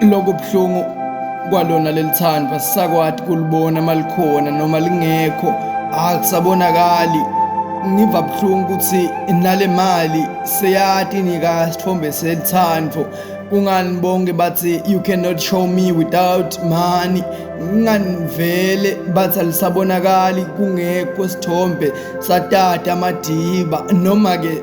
Lokho buhlungu kwalona lelithandwa sisakwati kulibona malikhona noma lingekho akusabonakali ngiva buhlungu ukuthi nale mali seyati nika sithombe selithando kungani bonke bathi you cannot show me without money nginganivele bathi alisabonakali kungekho sithombe satata amadiba noma-ke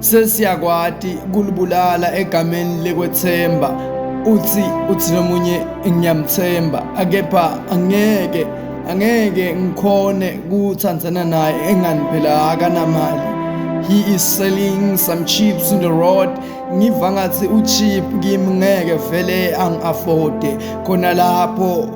sesiyakwati kulibulala egameni lekwethemba uthi uthi nomunye ngiyamthemba akepha angeke angeke ngikhone kuthandana naye engani phela akanamali he is selling some chips in the road ngiva ngathi uchip kimi ngeke vele angi-afforde khona lapho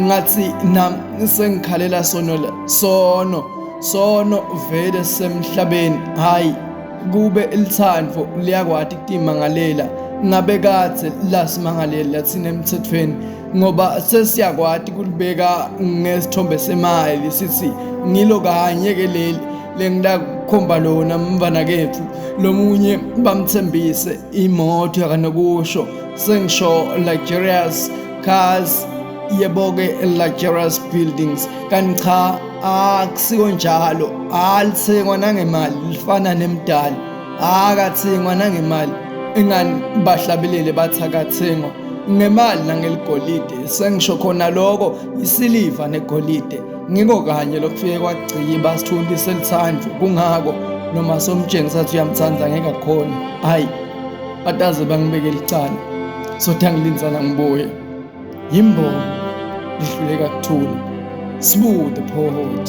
ngathi nam sengikhalela sono la sono sono vele semhlabeni hayi kube ilithandvo liyakwati kutimangalela ngabe kathe lasimangalela thina emthethweni ngoba sesiyakwati kulibeka ngesithombe semali sithi ngilo kanye ke leli lengilakukhomba lona mfana kethu lomunye bamthembise imoto yakanokusho sengisho luxurious cars yeboke luxurious buildings kanti cha akusiko njalo alithengwa nangemali lifana nemdali akathengwa nangemali ingani bahlabelele bathi akathengwa ngemali nangeligolide sengisho khona lokho isiliva negolide ngiko kanye lokufike kwagciba sithundi selithandwa kungako noma somtshengisa ukuthi uyamthanda ngeke akhona hayi bataze bangibeke licala sothe angilinzana ngibuye yimbongo lihluleka kuthula smooth the poet